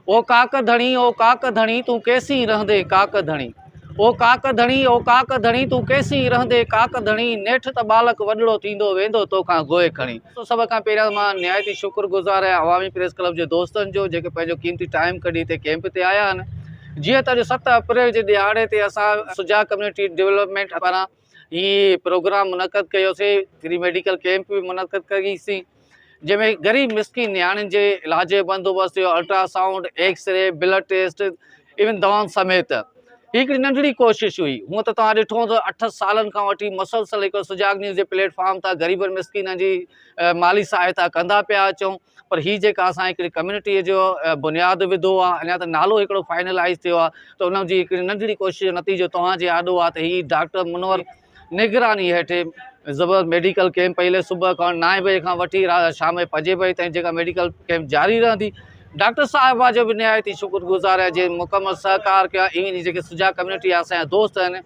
او ڪاڪ ڌڻي او ڪاڪ ڌڻي تون ڪيسين رهندي ڪاڪ ڌڻي او ڪاڪ ڌڻي او ڪاڪ ڌڻي تون ڪيسين رهندي ڪاڪ ڌڻي نيٺ ته ٻالڪ وڏڙو ٿيندو ويندو توکان گوء کڻي. تو سڀ کان پهريان مان نهايت ئي شڪر گذار آهيان عوامي پريس ڪلب جي دوستن جو جيڪي پنهنجو قيمتي ٽائيم ڪڍي هتي ڪيمپ تي آيا آهن جيئن ته اڄ ست اپريل جي ڏهاڙي تي اسان سجاڳ ڪميونٽي ڊولپمينٽ پاران هي پروگرام منعقد ڪيوسي فري ميڊيڪل ڪيمپ به منعقد ڪئي سي جنهن ۾ غريب مسڪين نياڻين جي علاج جو بندوبست ٿيو ultrasound X ray blood test ايون دوائن سميت هي هڪڙي ننڍڙي ڪوشش هئي هون ته توهان ڏٺو هوندو اٺ سالن کان وٺي مسلسل هڪ سجاڳ نيوز جي پليٽ فارم تان غريبن مسڪينن جي مالي سهائتا ڪندا پيا اچون پر هي جيڪا اسان هڪڙي ڪميونٽيء جو بنياد وڌو آ اڃا ته نالو هڪڙو فائنلائيز ٿيو آ ته ان جي هڪڙي ننڍڙي ڪوشش جو نتيجو توهان جي آڏو آ ته هي ڊاڪٽر منور نگراني هيٺي زبردست ميڊيڪل ڪيمپ پهرين صبح کان نائين بجي کان وٺي شام جي پنجين بجي تائين جيڪا ميڊيڪل ڪيمپ جاري رهندي ڊاڪٽر صاحبه جو به نهايت ئي شڪر گذار آهيان جنهن مڪمل سهڪار ڪيو آهي ايون ئي جيڪي سجا ڪميونٽي آ اسان جا دوست آهن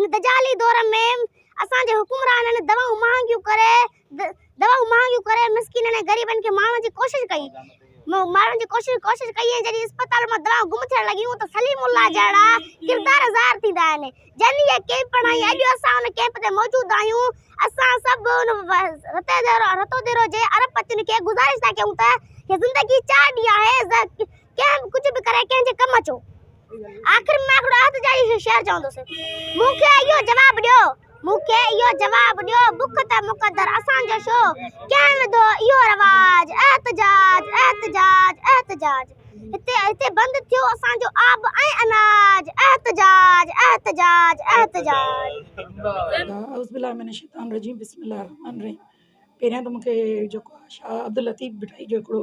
هن دجالي دور ۾ اسان جي حڪمرانن دوائون مهانگيون ڪري دوائون مهانگيون ڪري مسڪينن ۽ غريبن کي مارڻ جي ڪوشش ڪئي مارڻ جي ڪوشش ڪوشش ڪئي ۽ جڏهن اسپتال مان دوائون گم ٿيڻ لڳيون ته سليم الله جهڙا ڪردار ظاهر ٿيندا آهن جن هيء ڪيمپ بڻائي اڄ اسان ان ڪيمپ تي موجود آهيون اسان سڀ ان رتو ديرو جي ارب پتين کي گذارش ٿا ڪيون ته هيء زندگي چار ڏينهن آهي ڪنهن به ڪجهه به ڪري ڪنهن جي ڪم اچو آخر ۾ هڪڙو عهد جاري شعر چوندس مون کي اهو جواب ڏيو مون کي اهو جواب ڏيو بک ته مقدر اسان جو شو ڪنهن وڌو اهو رواج احتجاج احتجاج احتجاج هتي هتي بند ٿيو اسان جو آب ۽ اناج احتجاج احتجاج احتجاج اعوذ بالله من الشيطان الرجيم بسم الله الرحمن الرحيم پهريان ته مون کي جيڪو شاهه عبداللطيف ڀٽائي جو هڪڙو